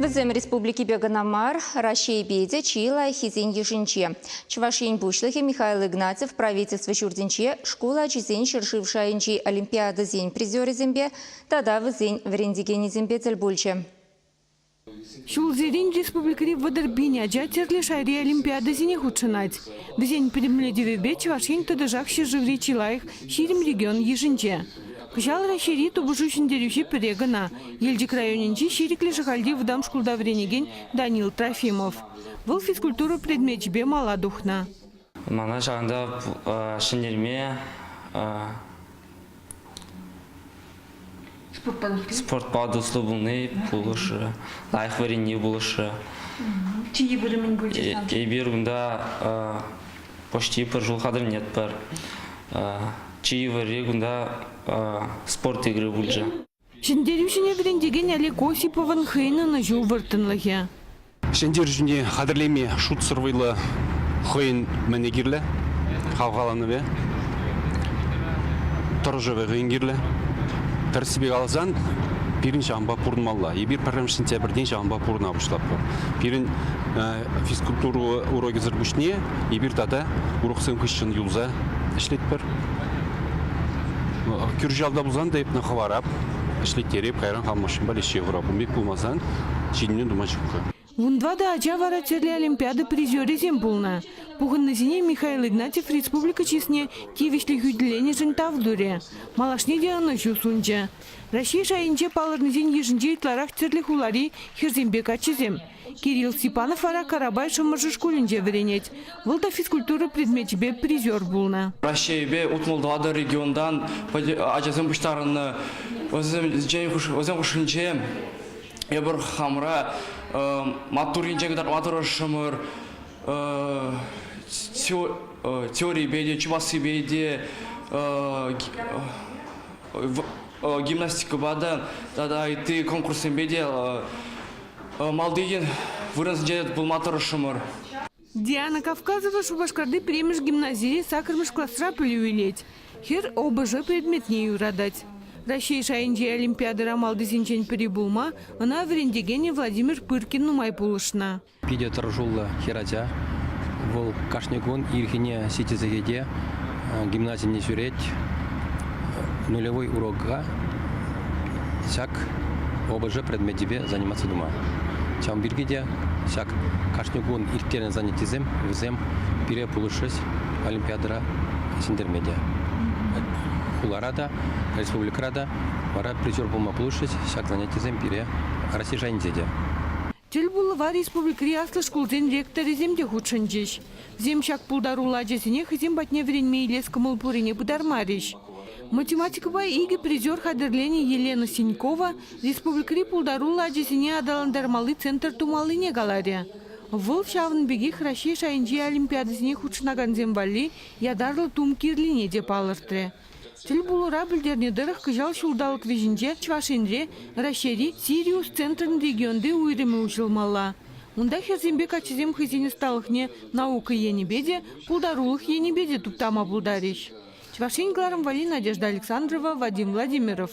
Вӗсем республикипе кӑна мар, Раҫҫейпе те чи лайӑххисен йышӗнче. Чӑваш Ен Пуҫлӑхӗ Михаил Игнатьев правительство ҫуртӗнче шкул ачисен ҫӗршыв шайӗнчи олимпиадӑсен призерӗсемпе тата вӗсен вӗрентекенӗсемпе тӗл пулчӗ. Ҫулсерен республикӑри вӑтӑр пин ача тӗрлӗ шайри олимпиадӑсене хутшӑнать. Вӗсен пӗтӗмлетӗвӗпе Чӑваш Ен тӑтӑшах ҫӗршыври чи лайӑх, ҫирӗм регион йышӗнче. Кӑҫал Раҫҫейри тупӑшу ҫӗнтерӳҫи пӗре кӑна, Елчӗк районӗнчи Ҫирӗклӗ Шӑхальти вӑтам шкулта вӗренекен Данил Трофимов. Вӑл физкультура предмечӗпе мала тухнӑ. Мана ҫакӑнта ҫӗнтерме спортпа туслӑ пулни пулӑшрӗ, лайӑх вӗренни пулӑшрӗ. Чи вырӑнӗн пулчӗ. Эпир кунта почти пӗр ҫул хатӗрленетпӗр. Чи йывӑрри кунта спорт игры пулчӗ. Ҫӗнтерӳҫӗне вӗрентекен Олег Осиповӑн хӑйӗн ӑнӑҫу вӑрттӑнлӑхӗ. Ҫӗнтерӳҫӗне хатӗрлеме шутсӑр вӑйлӑ хӑйӗн мӗнне кирлӗ? Хавхаланӑвӗ, тӑрӑшӑвӗ хӑйӗн кирлӗ. Тӗрӗссипе каласан, пирӗн ҫавӑнпа пурӑнмалла. Эпир пӗрремӗш сентябрьтен ҫавӑнпа пурӑна пуҫлатпӑр. Пирӗн физкультура урокӗсӗр пуҫне эпир тата уроксем хыҫҫӑн юлса ӗҫлетпӗр. Кӳршӗ пулсан та эпне хӑварап, ӗҫлеттереп, кайран хамӑршӑнпа леҫе хурапӑн пек пулмасан ҫитӗнӳ тума ҫукка. Унпа та ача вара тӗрлӗ олимпиада призерӗсем пулнӑ. Пухӑннисене Михаил Игнатьев республика чысне тивӗҫлӗ хӳтӗленӗшӗн тав турӗ, малашне те ӑнӑҫу сунчӗ. Раҫҫей шайӗнче палӑрнисен йышӗнче ытларах тӗрлӗ хулари хӗрсемпе каччӑсем, Кирилл Степанов вара Карапай Шӑмӑршӑ шкулӗнче вӗренет. Вӑл та физкультура предмечӗпе призер пулнӑ. Раҫҫейӗпе утмӑл тӑватӑ регионтан ачасем пуҫтарӑннӑ. Вӗсем хушшинче эпир хамӑра маттур енчен кӑтартма тӑрӑшрӑмӑр. Теорипе те, чувашсипе те, гимнастикӑпа та тата ытти конкурссемпе те Малти вырӑнсенче пулма тӑрӑшрӑмӑр. Диана Кавказова Шупашкарти пӗрремӗш гимназире саккӑрмӗш класра пӗлӳ илет. Хӗр ОБЖ предметне юратать. Раҫҫей шайӗнчи олимпиадӑра малтисенчен пӗри пулма ӑна вӗрентекенӗ Владимир Пыркин нумай пулӑшнӑ. Питӗ тӑрӑшуллӑ хӗрача. Вӑл кашни кун ирхине ҫитӗ сехете гимназине ҫӳрет нулевой урока ҫак ОБЖ предмечӗпе заниматься тума. Ҫавӑн пирки те ҫак кашни кун ирттернӗ занятисем вӗсем пире пулӑшрӗҫ олимпиадӑра ҫӗнтерме те. Хулара та, республикӑра та вара призер пулма пулӑшрӗҫ ҫак занятисем пире Раҫҫей шайӗнче те. Тӗл пулӑва республикӑри аслӑ шкулсен ректорӗсем те хутшӑнчӗҫ. Зим ҫак пултаруллӑ ачасене хӑйсем патне вӗренме илес кӑмӑл пуррине пытармарӗҫ. Математикӑпа икӗ призер хатӗрленӗ Елена Синькова республикӑри пултаруллӑ ачасене аталантармалли центр тумаллине каларӗ. Вӑл ҫавӑн пекех Раҫҫей шайӗнчи олимпиадӑсене хутшӑнакансем валли ятарлӑ тум кирлине те палӑртрӗ. Тӗлпулура пӗлтернӗ тӑрӑх, кӑҫал ҫулталӑк вӗҫӗнче Чӑваш Енре Раҫҫейри Сириус центрӗн регионти уйрӑмӗ уҫӑлмалла. Унта хӗрсемпе каччӑсем хӑйсен ӑсталӑхне наука енӗпе те, пултарулӑх енӗпе те туптама пултарӗҫ. Чӑваш Ен кӑларӑмварри Надежда Александрова, Вадим Владимиров.